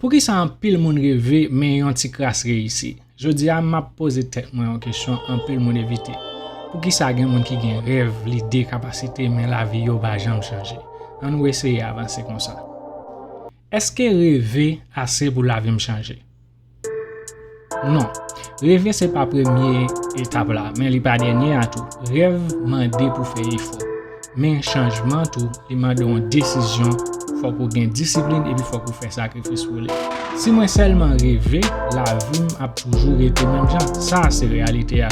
Poukisa anpil moun reve men yon ti kras reyisi? Jodi a, m ap poze tèt mwen yon kesyon anpil moun evite, Poukisa gen moun ki gen rèv, lide, kapasite men lavi yo pa janm chanje? Annou eseye avanse konsa. Èske reve ase pou lavi m chanje? Non. Reve se pa premye etap la, men li pa dènye a tou. Rèv mande pou fè efò. Men chanjman tou, li mande yon desizyon, fòk ou gen disiplin epi fòk ou fè sakrifis pou li. Si mwen sèlman reve, lavi m ap toujou rete menm jan. Sa a se reyalite a.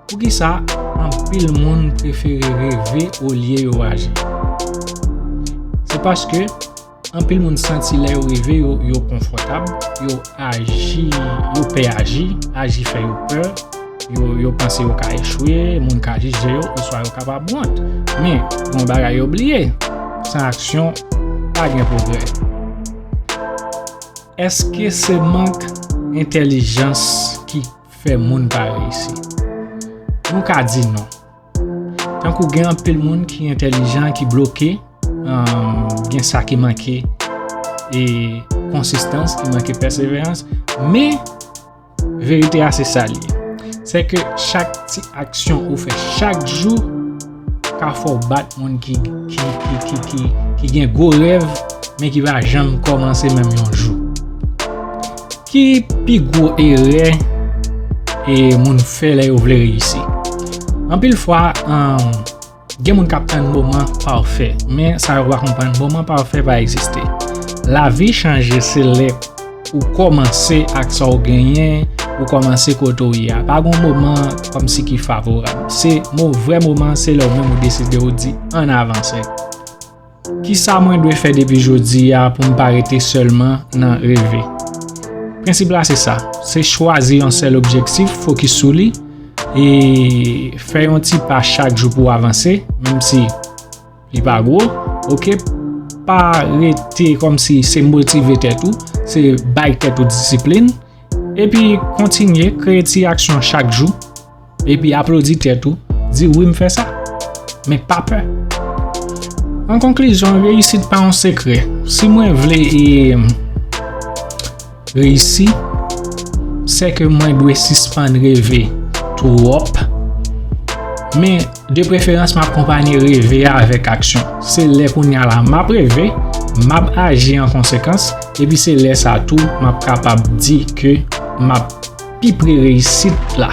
Poukisa anpil moun prefere reve olye yo aji? Se paske. Anpil moun santi lè yo rive yo, yo konfòtab, yo aji, yo pè aji, aji fè yo pè, yo, yo panse yo ka echwe, moun ka jije yo, oswa yo kapab wont. Men, gen yon bagay yo bliye, san aksyon, pa gen pwogrè. Èske se mank entèlijans ki fè moun pa reyisi? Nou ka di non. Tankou gen anpil moun ki entelijan ki bloke, gen sa ki manke e konsistans, ki manke pèseverans, men verite a se sa li. Se ke chak ti aksyon ou fè chak jou ka fò bat moun ki gen gwo rev men ki va janm kòmanse menm yon jou. Ki pi gwo erè e moun fè lè yo vle reyisi? Anpil fwa, gen moun k ap tann moman pafè, men sa yo pa konprann moman pafè pa egziste. Lavi chanje se lè ou kòmanse ak sa ou genyen, ou kòmanse kote ou ye a. Pa gen yon moman kòmsi ki favorab. Se vrè moman se lè ou menm ou deside ou di ann avanse. Kisa mwen dwe fè depi jodi a pou m pa rete sèlman nan reve? Prensip la se sa, se chwazi yon sèl objektif, fokis sou li, e fè yon ti pa chak jou pou w avanse, menm si li pa gwo, ok? Pa rete kòm si se motive tèt ou, se bay tèt ou disiplin, epi kontinye kreye ti aksyon chak jou. Epi aplodi tèt ou, di wi m fè sa. Men pa pè. An konklizyon, reyisit pa yon sekrè. Si mwen vle e reyisi, se ke mwen dwe sispann reve twòp. Men, de preferans m ap konpanye reve a avèk aksyon. Se lè kounye a la m ap reve, m ap aji an konsekans, epi se lè sa tou m ap kapab di ke m ap. pi pre reyisit la.